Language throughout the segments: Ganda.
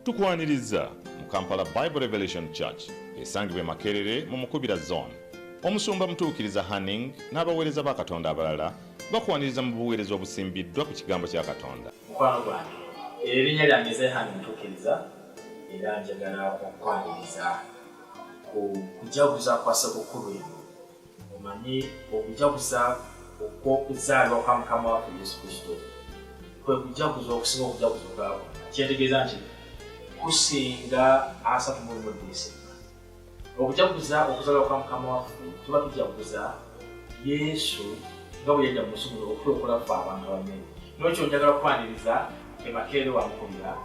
tukwaniriza mu kampala bible revelation church esangibwa emakerere mu mukubira zone omusumba mutuukiriza hanning n'abaweereza ba katonda abalala bakwaniriza mu buweereza obusimbiddwa ku kigambo kya katonda mukwano gwange erinnya lyange zehani mutuukiriza era njagala okukwaniriza ku kujaguza kwa ssekukkulu eno omanyi okujaguza okw'okuzaalwa kwa mukama waffe yesu kristo kwe kujaguza okusinga okujaguza okwabwe kyetegeeza nti kusinga asatu mulumuddiise okujaguza okuzaalwa kwa mukama waffe tuba tujaguza yesu nga bwe yajja munsi muno okulokola ffe abantu abamere nokyo njagala kukwaniriza emakeere wamukubira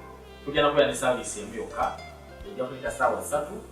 tujja nakubeera ne saaviisi emu yokka ejja kuleta saawa ssatu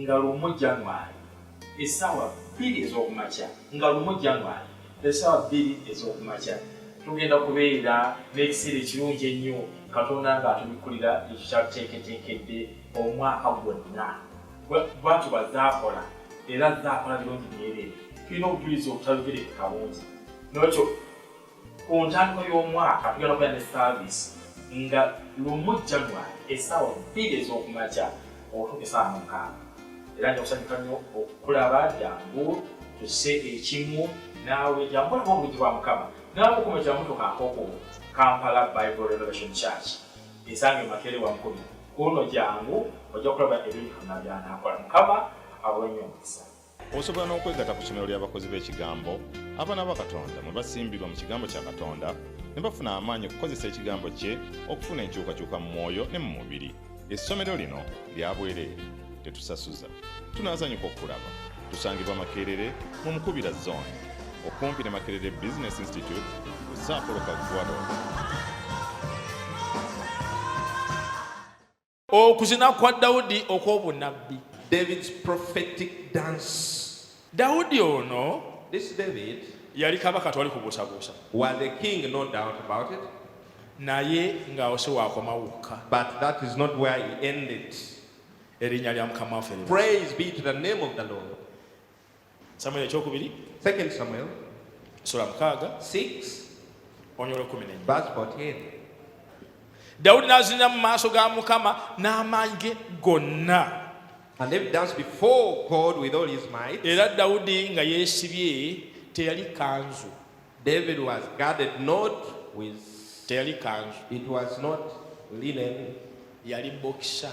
nga lumu January essaawa bbiri ez'okumakya nga lumu January essaawa bbiri ez'okumakya tugenda kubeera n'ekiseera ekirungi ennyo katonda ng'atubikkulira ekyo kyatuteeketeekedde omwaka gwonna bwatu bazaakola era zaakola birungi byereere tulina obujulizi obutayogerekeka bungi nokyo ku ntandikwa y'omwaka tugenda kubeera ne saaviisi nga lumu january essaawa bbiri ez'okumakya okutuuka essaawa mukaaga era nja kusanyuka nnyo okukulaba jangu tuse ekimu naawe jangu olaba obulungi bwa mukama naawe okuma ekiramutuka nkoko kampala bible revelation church esange makere wa nkumi kuno jangu ojja kulaba ebintu byonna byanakola mukama awenyo omukisa osobola n'okwegata ku ssomero ly'abakozi b'ekigambo abaana ba katonda mwe basimbibwa mu kigambo kya katonda ne bafuna amaanyi okukozesa ekigambo kye okufuna enkyukakyuka mu mwoyo ne mu mubiri essomero lino lya bwereere tetusasuza tunazanyuka okukulaba tusangibwa makerere mu mukubira zone okumpi ne makerere business institute ku saapolo kagwado Okuzina kwa Dawudi okw'obunabbi. David's prophetic dance. Dawudi ono This David yali kabaka twali kubuusabuusa. Was a king no doubt about it. Naye ng'awo si waakoma wokka. But that is not where he ended. Erinnya lya Mukama waffe. Praise be to the name of the Lord. Samuel ekyokubiri. Second Samuel. Sura mukaaga. 6. Onyolo 14. Verse 14. Daudi n'azinira mu maaso ga Mukama n'amaanyi ge gonna. And David danced before God with all his might. Era Daudi nga yeesibye teyali kanzu. David was guarded not with teyali kanzu. It was not linen. Yali boxer.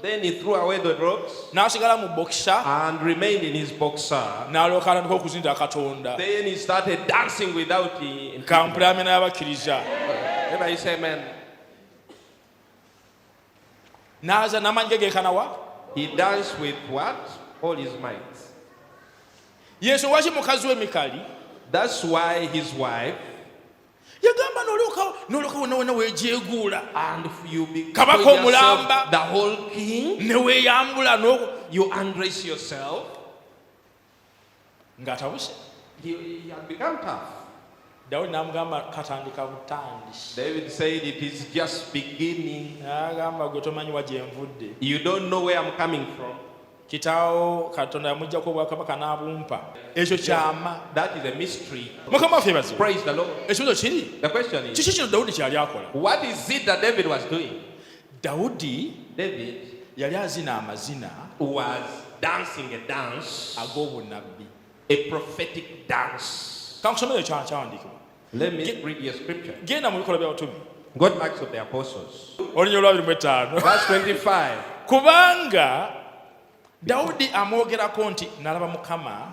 Then he threw away the rocks n'asigala mu bokisa and remained in his boxer. n'alyoka atandika okuzinda katonda Then he started dancing without him. kampula amena y'abakkiriza Everybody say amen. n'aza n'amaanyi ge geekanawa He danced with what? All his might. yesu waki mukazi we mikali That's why his wife yagamba nolyokawo nolyoka wonna wonna wejeguula kabaka omulamba neweyambula ng'atabuse dawudi namugamba katandika butandisiagamba gwe tomanyi wa gyenvudde kitaawo katonda yamujjako obwakabaka n'abumpa ekyo kyama mukama waffe bazi ekibuzo kiri kiki kino dawudi kyeyali akola dawudi yali azina amazina ag'obunabbi kankusomero kyawandiikibwa Let me Ge- read you a scripture. genda mu bikolwa by'abatume Go to Acts of the Apostles. olunya olwabiri mu etaano Verse 25. kubanga dawudi amwogerako nti nalaba mukama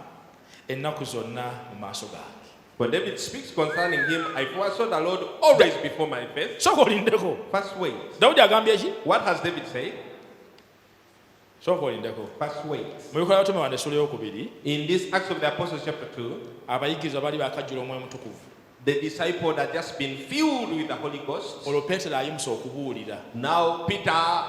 ennaku zonna mu maaso gange For David speaks concerning him, I foresaw the Lord always before my face. sooka olindeko First wait. dawudi agambye ki What has David said? sooka olindeko mubikola abatume bano essula eyokubiri abayigirizwa baali bakajjula omwoyo mutukuvu The disciple had just been filled with the Holy Ghost. olwo peetero ayimusa okubuulira Now Peter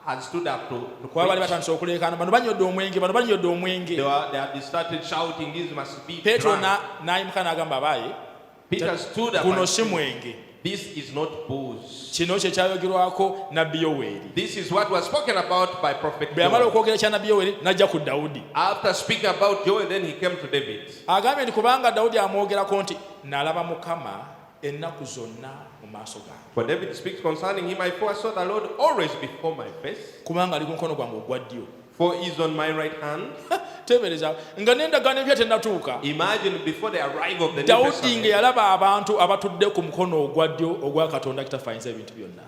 had stood up to, to kuba baali batandise okuleekaana bano banyodde omwenge bano banyodde omwenge They, were, they had started shouting, These must be peetero drunk. n'ayimuka n'agamba abaaye Peter stood up guno si mwenge This is not booze. kino kye kyayogerwako nabbi yoweri This is what was spoken about by prophet bwe yamala Joel. okwogera kya nabbi yoweri n'ajja ku dawudi After speaking about Joel, then he came to David. agambye nti kubanga dawudi amwogerako nti nalaba mukama ennaku zonna mu maaso gange For David speaks concerning him, I foresaw the Lord always before my face, kubanga ali ku mukono gwange ogwa ddyo For he is on my right hand. tebereza nga n'endagaano empya tennatuuka dawudi nga yalaba abantu abatudde ku mukono ogwa ddyo ogwa katonda kitaffe ayinza ebintu byonna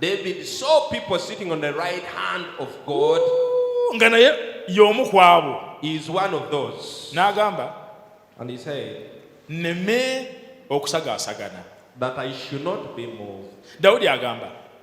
nga naye y'omu ku abo n'agamba nneme okusagaasagana dawudi agamba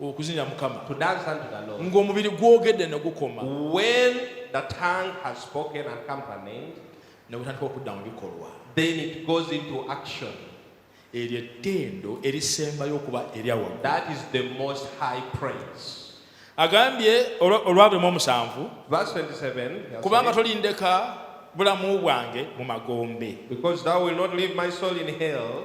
okuzinira mukama to dance unto the lord ng'omubiri gwogedde ne gukoma when the tongue has spoken and come to an end ne gutandika okudda mu bikolwa then it goes into action eryo ettendo erisembayo okuba eryawa that is the most high praise agambye olwabemu omusanvu kubanga tolindeka bulamu bwange mu magombe because thou will not leave my soul in hell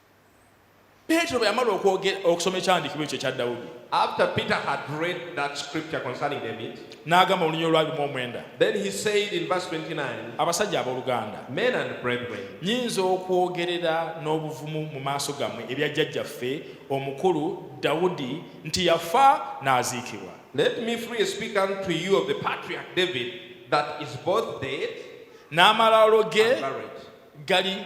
Petero bwe yamala okwogera okusoma ekyandiikibwa ekyo ekya Dawudi. After Peter had read that scripture concerning David. N'agamba olunyiriri olwali mu omwenda. Then he said in verse 29. Abasajja abooluganda. Men and brethren. Nyinza okwogerera n'obuvumu mu maaso gammwe ebya jjajjaffe omukulu Dawudi nti yafa n'aziikibwa. Let me freely speak unto you of the patriarch David that is both dead. N'amalaalo ge gali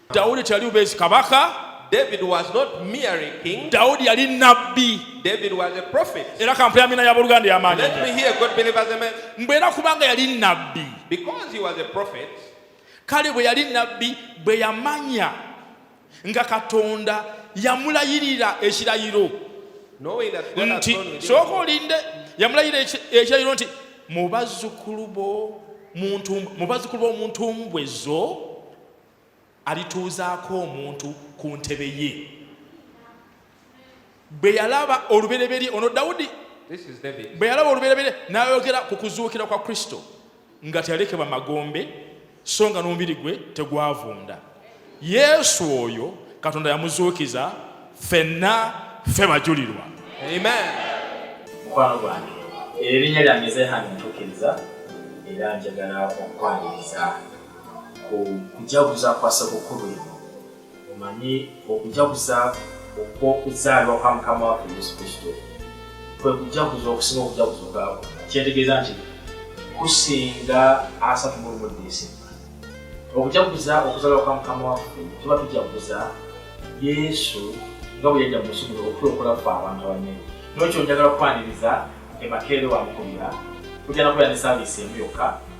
Daudi teyali bubeezi kabaka. David was not merely king. Daudi yali nabbi. David was a prophet. Era kampula amina ya buluganda ya maana. Let me hear God believers amen. Mbwera kubanga yali nabbi. Because he was a prophet. Kale bwe yali nabbi bwe yamanya nga Katonda yamulayirira ekirayiro nti sooka olinde yamulayira ekirayiro nti mu bazzukulu b'omuntu mbwe zo alituuzaako omuntu ku ntebe ye bwe yalaba olubereberye ono dawudi bwe yalaba olubereberye n'ayogera ku kuzuukira kwa kristo nga teyalekebwa magombe so nga n'omubiri gwe tegwavunda yesu oyo katonda yamuzuukiza fenna ffe bajulirwa mukwano gwange erinnya lyange zehani ntuukiriza era njagala okukwaniriza okujaguza kwa ssekukkulu eno omanyi okujaguza okw'okuzaalibwa kwa mukama waffe yesu kristo kwe kujaguza okusinga okujaguza obwabo kyetegeeza nti kusinga asatu mulumu desemba okujaguza okuzaalibwa kwa mukama waffe tuba tujaguza yesu nga bwe yajja musubulo okulokola ffe abantu abanye nokyo njagala kukwaniriza emakeere wamukubira kujja nakubeera ne saaviisi emu yokka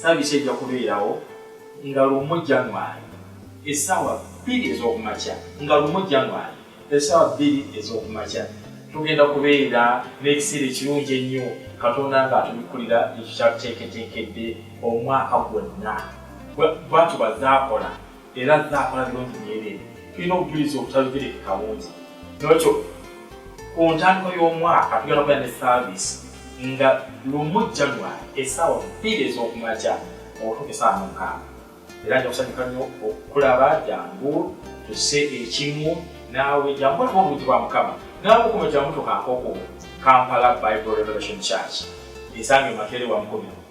saavisi ejja kubeerawo nga lumu january essaawa bbiri ez'okumakya nga lumu january essaawa bbiri ez'okumakya tugenda kubeera n'ekiseera ekirungi ennyo katonda nga atubikkulira ekyo kyatuteeketeekedde omwaka gwonna bwatubazaakola era azze akola birungi myereere tulina obujulizi obutalugereke kabungi nolwekyo ku ntandikwa y'omwaka tugenda kubeera ne saaviisi nga lumu january esaawa bbiri ez'okumakya okutuuka esaawa mukaaga era nja kusanyuka nnyo okukulaba jangu tuse ekimu naawe jangu olaba obulungi bwa mukama naawe okuma jangu tukankoko kampala bible revelation church esanga emakeere wamukomera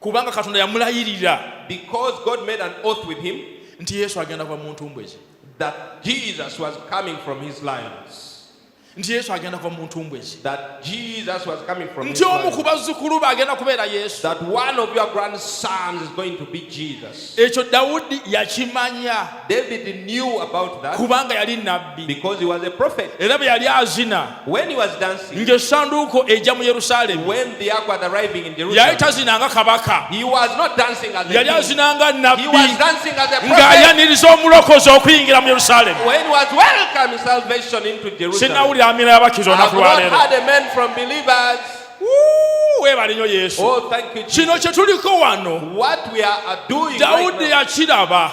kubanga katonda yamulayirira because god made an oath with him nti yesu agenda kuva mu ntumbwe ze that jesus was coming from his lions nti yesu agenda kuva mu ntumbwe ze nti omu ku bazzukulu be agenda kubeera yesu ekyo dawudi yakimanya David knew about that kubanga yali nabbi because he was a prophet era bwe yali azina when he was dancing ng'essanduuko ejja mu yerusaalemi when the ark was arriving in jerusalem yali tazinanga kabaka he was not dancing as a yali azinanga nabbi he was dancing as a prophet ng'ayaniriza omulokozi okuyingira mu yerusaalemi when he was welcoming salvation into jerusalem sinnawulira amina y'abakkiriza olunaku lwa leero webale nyo yesu oh, kino kyetuliko wano dawudi yakiraba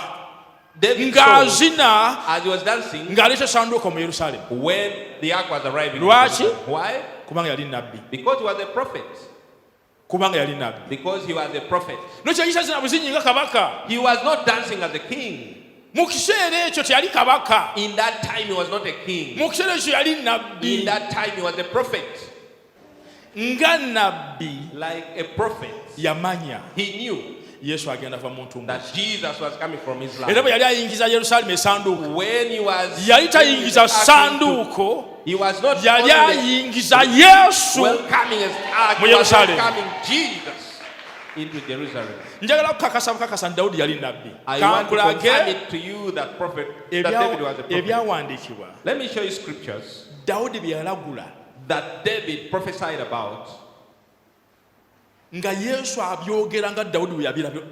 ng'azina ng'aleeta sanduuko mu yerusalemu lwaki kubanga yali nabbi kubanga yali nabbi nokyeyisazina buzinyi nga kabaka mu kiseera ekyo teyali kabaka mu kiseera ekyo yali nabbi nga nabbi like a prophet yamanya he knew yesu agenda va muntu era bwe yali ayingiza yerusalemu esanduuko yali tayingiza sanduuko yali ayingiza yesu mu yerusalemu njagala kukakasa bukakasa nti dawudi yali nabbi kankulage ebyawandiikibwa dawudi bye yalagula that David prophesied about nga yesu abyogera nga dawudi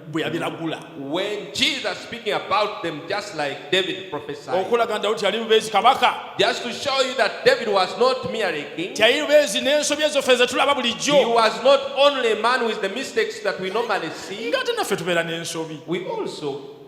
bwe yabiragula when jesus speaking about them just like david prophesied okulaga dawudi yali mubeezi kabaka just to show you that david was not merely king teyali mubeezi n'ensobi ezoffe ze tulaba bulijjo he was not only a man with the mistakes that we normally see ng'ate naffe tubeera n'ensobi we also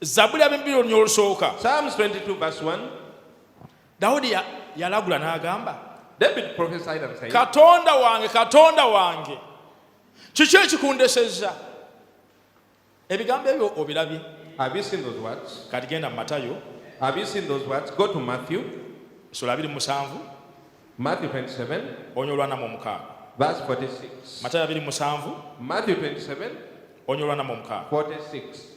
Zabuli ab'ebibiri olunya olusooka. Psalms 22 verse 1. Dawudi yalagula n'agamba. David prophesied and said. Katonda wange, Katonda wange. Kiki ekikundesezza? Ebigambo ebyo obirabye? Have you seen those words? Kati genda mu Matayo. Have you seen those words? Go to Matthew. Sula abiri musanvu. Matthew 27. Onyo olwana mu mukaaga. Verse 46. Matayo abiri musanvu. Matthew 27. Onyo olwana mu mukaaga. 46.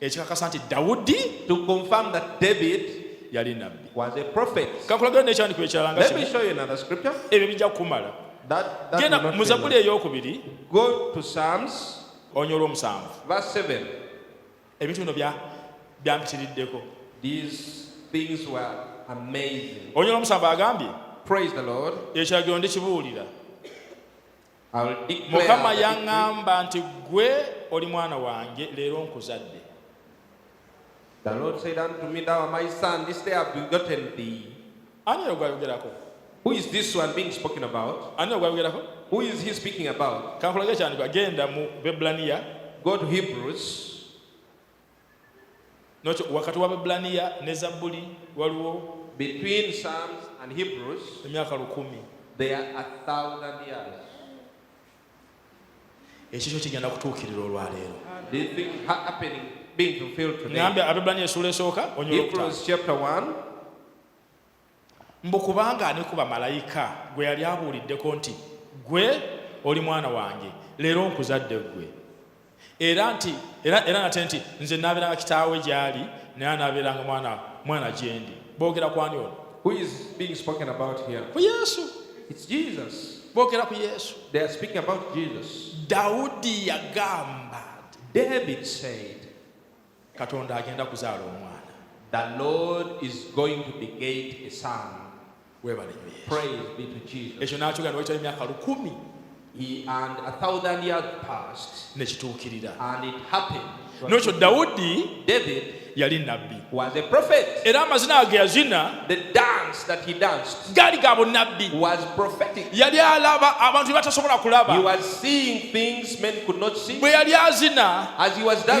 ekikakasa nti dawudi to confirm that david yali nabbi was a prophet kakulagana n'ekyandiko ekirala nga ebyo bijja kukumala genda mu zabuli ey'okubiri go to psalms onya olw'omusanvu verse 7 ebintu bino byampitiriddeko these things were amazing onya olw'omusanvu agambye praise the lord ekiragiro ndikibuulira mukama yaŋŋamba nti ggwe oli mwana wange leero nkuzadde ani oyo gwayogerako ani ogwayogerako kankulage kyandiba genda mu bebbulaniya nokyo wakati wa babbulaniya ne zabbuli waliwo between psalms and hebrews emyaka lukumi there are a thousand years ekikyo kigenda kutuukirira olwaleero ngambye ababbulaniya esuula esooka onyolokta chapter 1 mbu kubanga ani ku bamalayika gwe yali abuuliddeko nti gwe oli mwana wange leero nkuzadde gwe era nti era era nate nti nze nabeeranga kitaawe gyali naye anabeeranga mwana mwana gyendi boogera kwani ono ku yesu boogera ku yesu dawudi yagamba david said katonda agenda kuzaala omwana the lord is going to begate a son webale praise be to jesus ekyo nakyogera newakitali emyaka lukumi He and a thousand years passed, nekituukirira and it happened nokyo dawudi david yali nabbi was a prophet era amazina age yazina the dance that he danced gaali ga bunnabbi yali alaba abantu batasobola kulaba bwe yali azina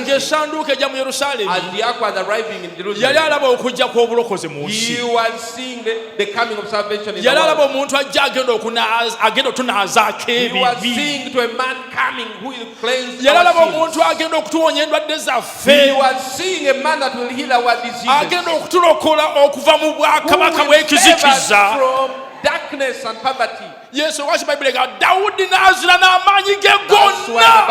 ng'esanduuka ejja mu yerusaalemi yali alaba okujja kw'obulokozi mu nsi yali alaba omuntu ajja agenda agenda otunaazaako ebibi yali alaba omuntu agenda okutuwonya endwadde zaffe agenda okutulokola okuva mu bwakabaka bw'ekizikiza yesu lwaki bayibuli ega dawudi n'azina n'amaanyi ge gonna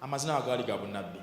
amazina agaali ga bunabbi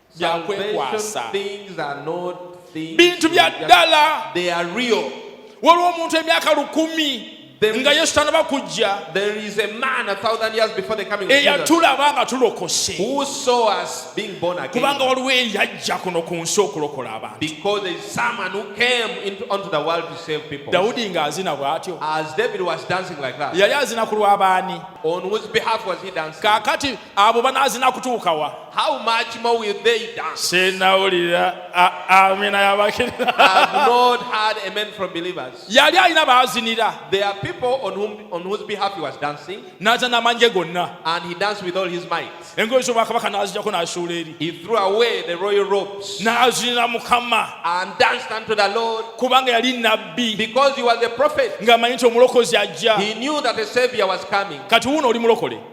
bya kwekwasa bintu bya ddala waliwo omuntu emyaka lukumi nga yesu tanaba kujja eyatulaba nga tulokose kubanga waliwo eyajja kuno ku nsi okulokola abantu dawudi ng'azina bw'atyo yali azina ku lw'abaani kaakati abo banaazina kutuukawa how much more will they dance sinawulira amina yabakirira have not had a man from believers yali alina baazinira there are people on, whom, on whose behalf he was dancing n'aza n'amanje gonna and he danced with all his might engoye z'obwakabaka n'azijako n'asuula eri he threw away the royal robes n'azinira mukama and danced unto the lord kubanga yali nabbi because he was a prophet ng'amanyi nti omulokozi ajja he knew that a savior was coming kati wuuno oli mulokole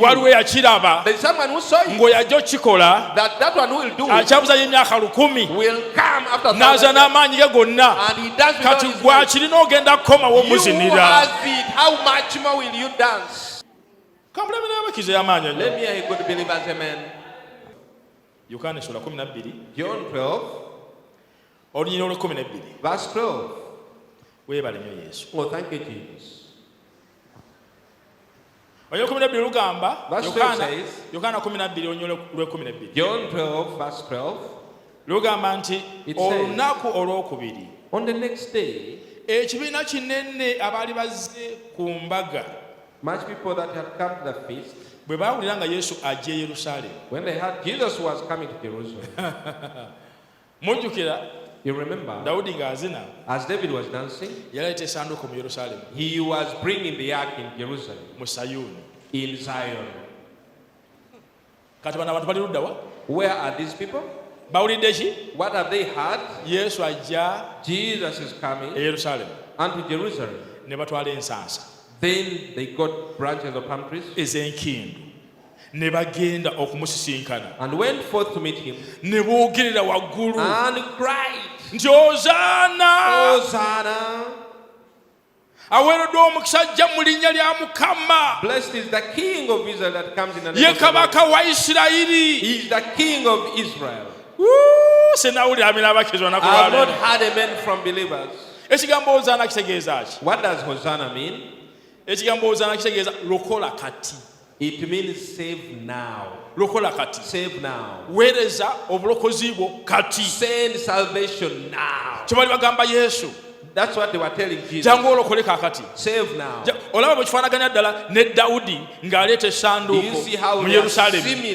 waliwo yakiraba ng'oyajja okukikola akyabuzanya emyaka lukumi n'aza n'amaanyi ge gonna kati gwakirina ogenda kukomawo omuzinira kamulabe n'abakiza y'amaanyi yokaana esula kumi nabbiri olunyina olwekumi nebbiri weebale nyo yesu oh, John 12 verse 12 lugamba nti olunaku olwokubiri on the next day ekibiina kinene abaali bazze ku mbaga much people that had come to the feast bwe baawulira nga yesu ajja e yerusalemu when they heard jesus was coming to jerusalem mujjukira You remember, Daudi ng'azina as David was dancing, yaleeta esanduuko mu Yerusalemu, he was bringing the ark in Jerusalem, mu Sayuuni. in Zion. Kati bano abantu bali ludda wa? Where are these people? Bawulidde ki? What have they heard? Yesu ajja Jesus is e coming Yerusalemu unto Jerusalem. ne batwala ensansa Then they got branches of palm trees ez'enkindu ne bagenda okumusisinkana and went forth to meet him ne boogerera waggulu and cried nti ozaana ozaana aweereddwa omukisa ajja mu linnya lya mukama ye kabaka wa isirayiri senawulira amina abakirizwa nakuba ekigambo ozaana kitegeeza ki ekigambo ozaana kitegeeza lokola kati It means save now. Lokola kati. Save now. Weereza obulokozi bwo kati. Send salvation now. Kye bali bagamba Yesu. That's what they were telling Jesus. Jangu olokole kakati. Save now. Olaba bwe kifaanaganya ddala ne Dawudi ng'aleeta essanduuko mu Yerusaalemi.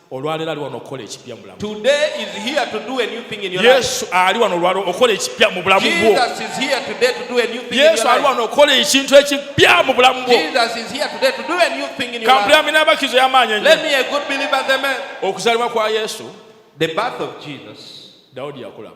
olwaleero ali wano okukola ekipya mu bulamu yesu ali wano olwaleero okukola ekipya mu bulamu bwo yesu ali wano okukola ekintu ekipya mu bulamu bwo kampulami n'abakizo y'amaanyi enyo okuzalibwa kwa yesu dawudi yakulaba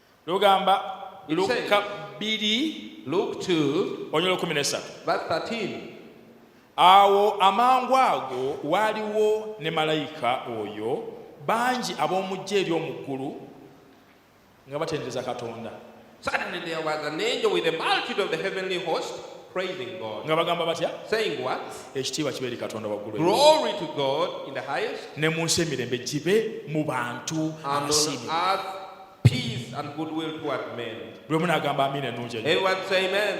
lugamba lukka bbiri onyolo kumi nesatu awo amangu ago waaliwo ne malayika oyo bangi ab'omujja eri omu ggulu nga batendereza katonda Suddenly there was an angel with a multitude of the heavenly host praising God. nga bagamba batya Saying what? ekitiibwa kibe eri katonda waggulu Glory to God in the highest ne mu nsi emirembe gibe mu bantu and on earth Peace and goodwill toward men. Lwe munagamba amina ennungi ennyo. Everyone say amen.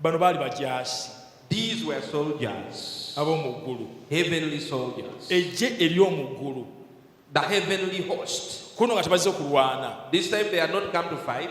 Bano baali bajaasi. These were soldiers. Ab'omu ggulu. Heavenly soldiers. Eggye ery'omu ggulu. The heavenly host. Kuno nga tebazze kulwana. This time they are not come to fight.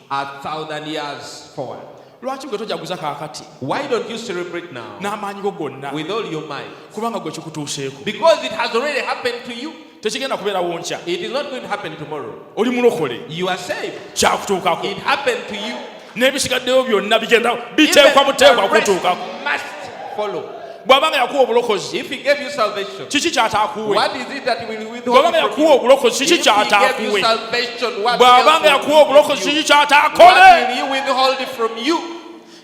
a thousand years forward. lwaki gwe tojaguza kakati why don't you celebrate now n'amaanyi go gonna with all your mind kubanga gwe kikutuuseeko because it has already happened to you tekigenda kubeerawo nkya it is not going to happen tomorrow oli mulokole you are saved kyakutuukako it happened to you n'ebisigaddeyo byonna bigenda biteekwa buteekwa kutuukako must follow bw'aba nga yakuwa obulokozi kiki kyataakuwe bw'aba nga yakuwa obulokozi kiki kyataakuwe bw'aba nga yakuwa obulokozi kiki kyataakole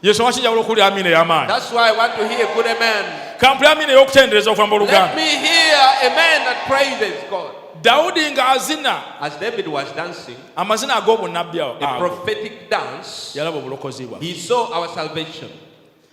yesu waki njagala okuwulira amiina ey'amaanyi kampula amiina ey'okutendereza okuva mu oluganda dawudi ng'azina amazina ag'obunnabbi awo yalaba obulokozi bwa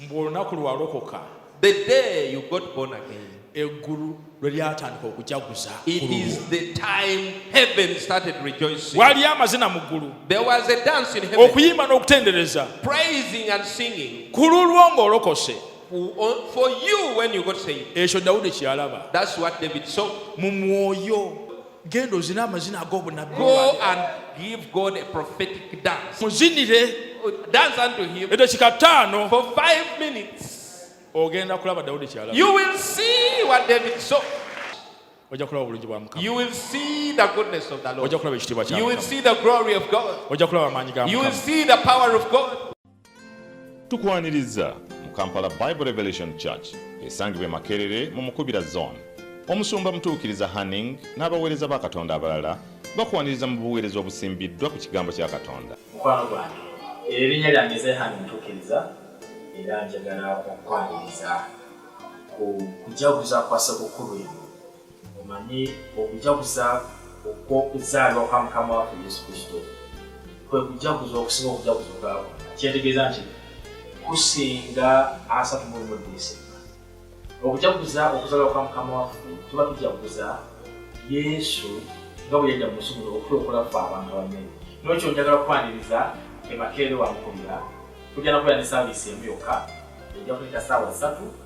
mbu olunaku lwalokoka the day you got born again eggulu lwe lyatandika okujaguza it is the time heaven started rejoicing waliyo amazina mu ggulu there was a dance in heaven okuyimba n'okutendereza praising and singing ku lulwo ng'olokose for you when you got saved ekyo dawudi kyeyalaba that's what david saw mu mwoyo genda ozina amazina ag'obunabbi go and give god a prophetic dance muzinire dance unto him edakika ttaano for five minutes ogenda kulaba dawudi kyala you will see what david saw ojja kulaba obulungi bwa mukama you will see the goodness of the lord ojja kulaba ekitiibwa kya you will see the glory of god ojja kulaba amaanyi ga mukama you will see the power of god Tukwaniriza mu Kampala Bible Revelation Church esangibwa e Makerere mu Mukubira Zone. Omusumba Mutuukiriza Hanning n'abaweereza ba Katonda abalala bakwaniriza mu buweereza obusimbiddwa ku kigambo kya Katonda. Mukwano gwange, erinnya lyange ze Hanning Mutuukiriza era njagala okukwaniriza ku kujaguza kwa Ssekukkulu eno. omanyi okujaguza okw'okuzaalwa kwa mukama waffe yesu kristo kwe kujaguza okusinga okujaguza okwabwe kyetegeeza nti kusinga asatu mulimu desemba okujaguza okuzaalwa kwa mukama waffe tuba tujaguza yesu nga bwe yajja mu nsi muno okulokola ffe abantu abanene nokyo njagala kukwaniriza emakeere wamukubira kujja nakubeera ne saavisi emu yokka ejja kuleta saawa ssatu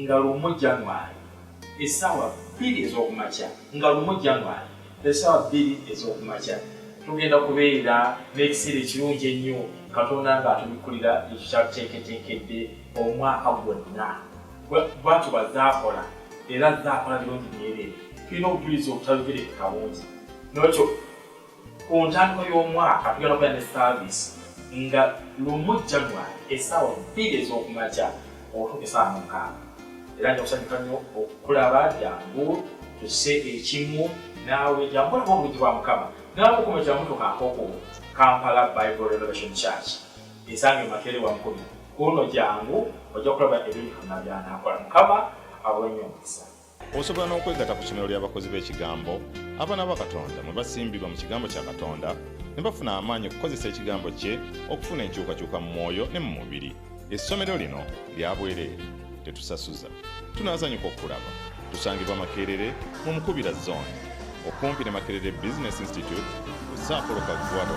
nga lumu January essaawa bbiri ez'okumakya nga lumu January essaawa bbiri ez'okumakya tugenda kubeera n'ekiseera ekirungi ennyo katonda nga atubikkulira ekyo kyatuteeketeekedde omwaka gwonna bwatyo bazaakola era zaakola birungi byereere tulina obujulizi obutayogerekeka bungi nokyo Ku ntandikwa y'omwaka tugenda kubeera ne saaviisi nga lumu January essaawa bbiri ez'okumakya okutuuka essaawa mukaaga era nja kusanyuka nnyo okukulaba jangu tuse ekimu naawe jangu olaba obulungi bwa mukama naawe okumekera mutuka nkoko kampala bible renovation church esange makeere wankumi kuno jangu ojja kulaba ebintu byonna byanakola mukama awenyo omukisa osobola n'okwegata ku somero ly'abakozi b'ekigambo abaana ba katonda mwe basimbibwa mu kigambo kya katonda ne bafuna amaanyi okukozesa ekigambo kye okufuna enkyukakyuka mu mwoyo ne mu mubiri essomero lino lya bwereere tetusasuza tunazanyuka okukulaba tusangibwa makerere mu mukubira zone okumpi ne makerere business institute ku saapolo kagwado